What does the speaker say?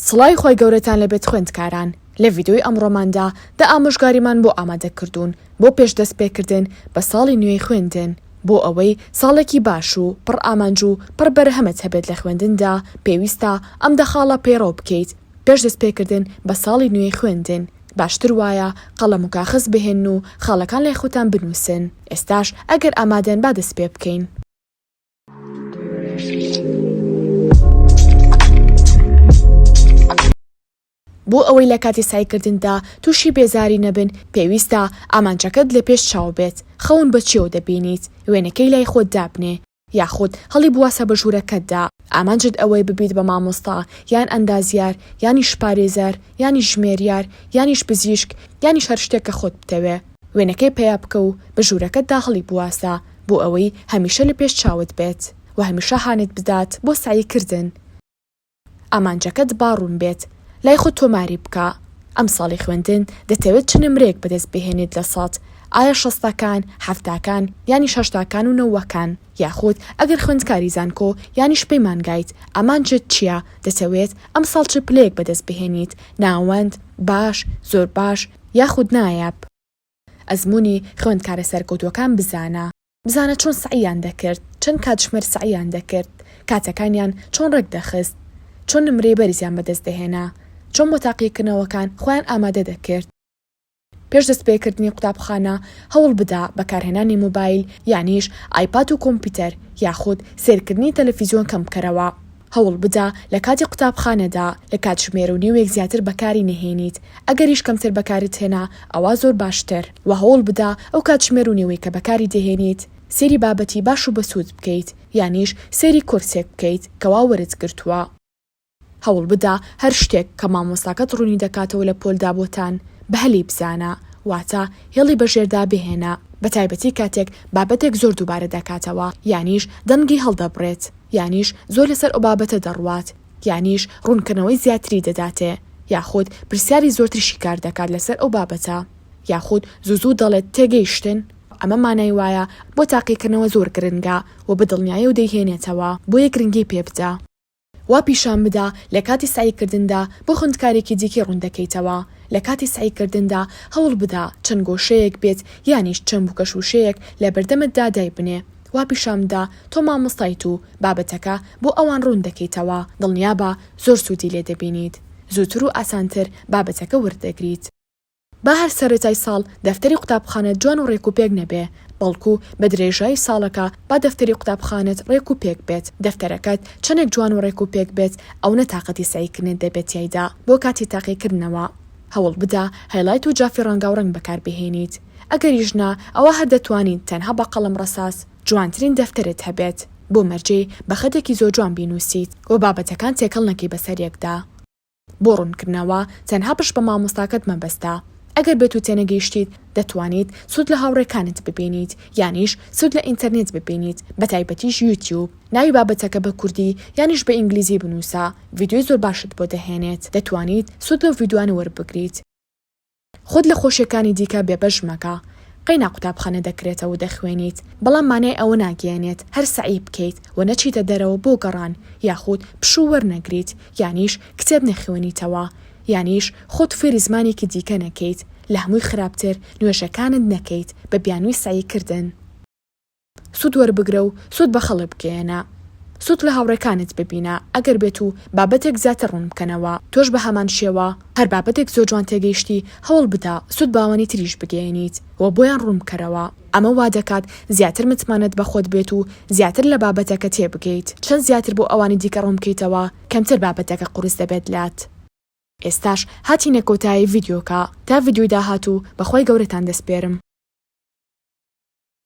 سڵاوی خوای گەورەتان لێ بێت خوێندکاران، لە ڤیدیۆی ئەمڕۆماندا دە ئامۆژگاریمان بۆ ئامادەکردوون بۆ پێش دەستپێکردن بە ساڵی نوێی خوێندن، بۆ ئەوەی ساڵێکی باش و پڕ ئامانج و پڕ بەرهەمت هەبێت لە خوێندندا پێویستە ئەم دە خاڵە پەیڕەو بکەیت پێش دەستپێکردن بە ساڵی نوێی خوێندن، باشتر وایە قەڵەم و کاخەز بهێنن و خاڵەکان لای خۆتان بنووسن، ئێستاش ئەگەر ئامادەن با دەستپێبکەین. بۆ ئەوەی لە کاتی سەعیکردندا تووشی بێزاری نەبن، پێویستە ئامانجەکەت لە پێش چاو بێت، خەون بە چییەوە دەبینیت، وێنەکەی لای خۆت دابنێ، یاخود هەڵیبواسە بە ژوورەکەتدا، ئامانجت ئەوەیە ببیت بە مامۆستا، یان ئەندازیار، یانیش پارێزەر، یانیش ژمێریار، یانیش پزیشک، یانیش هەر شتێک کە خۆت بتەوێ، وێنەکەی پەیا بکە و بە ژوورەکەتدا هەڵیبواسە. بۆ ئەوەی هەمیشە لە پێش چاوت بێت و هەمیشە هانت بدات بۆ سەعی کردن ئامانجەکەت با ڕوون بێت لای خۆت تۆماری بکە ئەم ساڵی خوێندن دەتەوێت چ نمرەیەک بەدەست بهێنیت لە سەد ئایا شەستەکان حەفتاکان یانیش هەشتاکان و نەوەکان یاخود ئەگەر خوێندکاری زانکۆ یانیش پەیمانگایت ئامانجت چیە دەتەوێت ئەم ساڵ چ پلەیەک بەدەست بهێنیت ناوەند باش زۆر باش یاخود نایاب. ئەزموونی خوێندکارە سەرکەوتووەکان بزانە، بزانە چۆن سەعییان دەکرد، چەند کاتژمێر سەعییان دەکرد، کاتەکانیان چۆن ڕێکدەخست، چۆن نمرەی بەرزیان بەدەست دەهێنا، چۆن بۆ تاقیکردنەوەکان خۆیان ئامادە دەکرد. پێش دەستپێکردنی قوتابخانە هەوڵ بدە بەکارهێنانی مۆبایل یانیش ئایپات و کۆمپیوتەر یاخود سەیرکردنی تەلەفیزیۆن کەم بکەرەوە. هەوڵ بدە لە کاتی قوتابخانەدا لە کاتژمێر و نیوێک زیاتر بەکاری نەهێنیت، ئەگەریش کەمتر بەکارت هێنا ئەوا زۆر باشتر، وە هەوڵ بدە ئەو کاتژمێر و نیوەی کە بەکاری دەهێنیت سەیری بابەتی باش و بەسوود بکەیت یانیش سەیری کۆرسێک بکەیت کەوا وەرت گرتووە. هەوڵ بدە هەر شتێک کە مامۆستاکەت ڕوونی دەکاتەوە لە پۆلدا بۆتان بە هەلی بزانە، واتە هێڵی بەژێردا بهێنە بەتایبەتی کاتێک بابەتێک زۆر دووبارە دەکاتەوە یانیش دەنگی هەڵدەبڕێت، یانیش زۆر لەسەر ئەوبابەتە دەڕوات، یانیش ڕوونکردنەوەی زیاتری دەداتێ، یاخود پرسیاری زۆرتر شیکار دەکات لەسەر ئەو بابەتە، یاخود زوو زوو دەڵێت تێگەیشتن؟ ئەمە مانای وایە بۆ تاقیکردنەوە زۆر گرنگە و بە دڵنیایی و دەیهێنێتەوە، بۆیە گرنگی پێ بدە. وا پیشان بدە لە کاتی سەعیکردندا بۆ خوندکارێکی دیکەی ڕوون دەکەیتەوە، لە کاتی سەعیکردندا هەوڵ بدە چەند گۆشەیەک بێت یانیش چەند بووکەشووشەیەک لە بەردەمتدا دایبنێ، وا پیشانم دا تۆ مامۆستایت و بابەتەکە بۆ ئەوان ڕوون دەکەیتەوە، دڵنیابە زۆر سوودی لێ دەبینیت، زووتر و ئاسانتر بابەتەکە ورد دەگریت. با هەر سەرەتای ساڵ دەفتەری قوتابخانەت جوان و ڕێک و پێک نەبێ، بەڵکو بە درێژایی ساڵەکە با دەفتەری قوتابخانەت ڕێک و پێک بێت، دەفتەرەکەت چەندێک جوان و ڕێک و پێک بێت ئەونە تاقەتی سەعیکردنت دەبێت تیایدا، بۆ کاتی تاقیکردنەوە هەوڵ بدە هایلایت و جافی ڕەنگاوڕەنگ بەکاربهێنیت. ئەگەریش نا، ئەوا هەر دەتوانیت تەنها بە قەڵەم ڕەساس جوانترین دەفتەرت هەبێت بۆ مەرجی بە خەتێکی زۆر جوان بینووسیت و بابەتەکان تێکەڵ نەکەی بەسەر یەکدا. بۆ ڕوونکردنەوە تەنها پشت بە مامۆستاکەت مەبەستە. ئەگەر بێت و تێنەگەیشتیت، دەتوانیت سوود لە هاوڕێکانت ببینیت یانیش سوود لە ئینتەرنێت ببینیت بە تایبەتیش یوتیوب. ناوی بابەتەکە بە کوردی یانیش بە ئینگلیزی بنووسە، ڤیدیۆی زۆر باشت بۆ دەهێنێت، دەتوانیت سوود لەو ڤیدیۆانە وەربگریت. خۆت لە خۆشیەکانی دیکە بێ بەش مەکە قەینا قوتابخانە دەکرێتە و دەخوێنیت بەڵام مانای ئەوە ناگەیەنێت هەر سەعی بکەیت و نەچیتە دەرەوە بۆ گەڕان یاخود پشوو وەرنەگریت یانیش کتێب نەخوێنیتەوە یانیش خۆت فێری زمانێکی دیکە نەکەیت لە هەمووی خراپتر نوێژەکانت نەکەیت بە بیانووی سەعی کردن سوود وەربگرە و سوود بە خەڵک بگەیەنە. سوود لە هاوڕێکانت ببینە، ئەگەر بێت و بابەتێک زیاتر ڕوون بکەنەوە، تۆش بە هەمان شێوە هەر بابەتێک زۆر جوان تێگەیشتی هەوڵ بدە سوود بە ئەوانی تریش بگەیەنیت و بۆیان ڕوون بکەرەوە، ئەمە وا دەکات زیاتر متمانەت بە خۆت بێت و زیاتر لە بابەتەکە تێبگەیت، چەند زیاتر بۆ ئەوانی دیکە ڕوون بکەیتەوە کەمتر بابەتەکە قورس دەبێت لات. ئێستاش هاتینە کۆتایی ڤیدیۆکە، تا ڤیدیۆی داهاتوو بە خوای گەورەتان دەسپێرم.